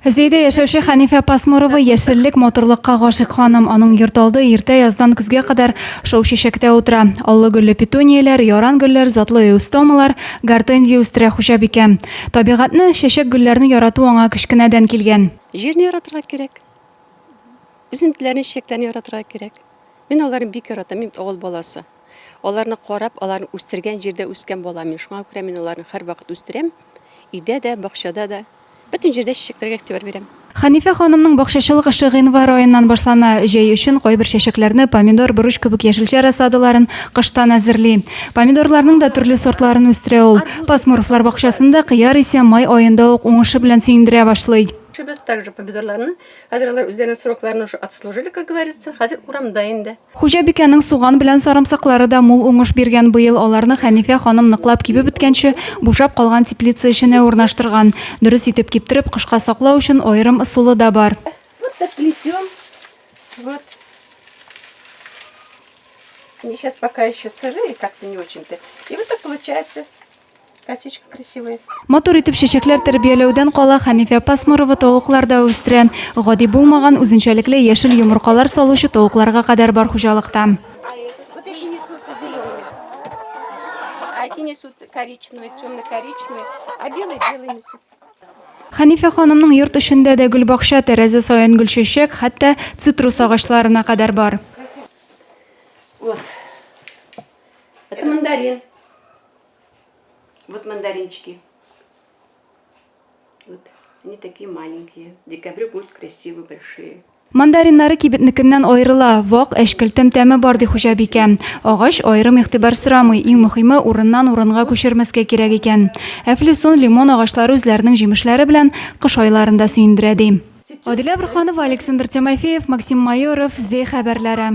Зәйдә яшәүче Хәнифә Пасмурова яшеллек, матурлыкка гашыйк ханым. Аның йорт алды иртә яздан көзгә кадәр шау чәчәктә утыра. Аллы гөлле петунияләр, яран гөлләр, затлы эустомалар, гортензия үстерә хуҗабикә. Табигатьне, чәчәк-гөлләрне ярату аңа кечкенәдән килгән. Җирне яратырга кирәк. Үсентеләрне, чәчәкләрне яратырга кирәк. Мин аларны бик яратам, мин бит авыл баласы. Аларны карап, аларны үстергән җирдә үскән бала мин. Шуңа күрә мин аларны һәрвакыт үстерәм. Өйдә дә, бакчада да. Бөтен җирдә чәчәкләргә игътибар бирәм. Хәнифә ханымның бакчачылык эше гыйнвар аеннан башлана. Җәй өчен кайбер чәчәкләрне, помидор, борыч кебек яшелчә рассадаларын, кыштан әзерли. Помидорларның да төрле сортларын үстерә ул. Пасмуровлар бакчасында кыяр исә май аенда ук уңышы белән сөендерә башлый. Эшебез также помидорларны. Хәзер алар үзләренең срокларына уже отслужили, как говорится. Хәзер урамда инде. Хуҗабикәнең суган белән сарымсаклары да мул уңыш биргән быел. Аларны Хәнифә ханым ныклап кибеп беткәнче, бушап калган теплица эченә урнаштырган. Дөрес итеп киптереп, кышка саклау өчен аерым ысулы да бар. Вот так плетем. Вот. Они сейчас пока еще сырые, как-то не очень-то. И вот так получается. Косичка красивый. Матур итеп чәчәкләр тәрбияләүдән кала Хәнифә Пасмурова тавыклар да үстерә. Гади булмаган үзенчәлекле яшел йомыркалар салучы тавыкларга кадәр бар хуҗалыкта. Хәнифә ханымның йорт эчендә дә гөлбакча, тәрәзә саен гөлчәчәк, хәтта цитрус агачларына кадәр бар. Вот. Это мандарин. Вот мандаринчики. Вот они такие маленькие. В декабре будут красивые, большие. Мандариннары кибетнекеннән аерыла, вак әшкелтем тәме бар ди хуҗабикә. Агач аерым игътибар сорамый, иң мөһиме урыннан урынга күчермәскә кирәк икән. Әфлюсон, лимон агачлары үзләренең җимешләре белән кыш айларында сөендерә ди. Адилә Бурханова, Александр Тимофеев, Максим Майоров, Зе хәбәрләре.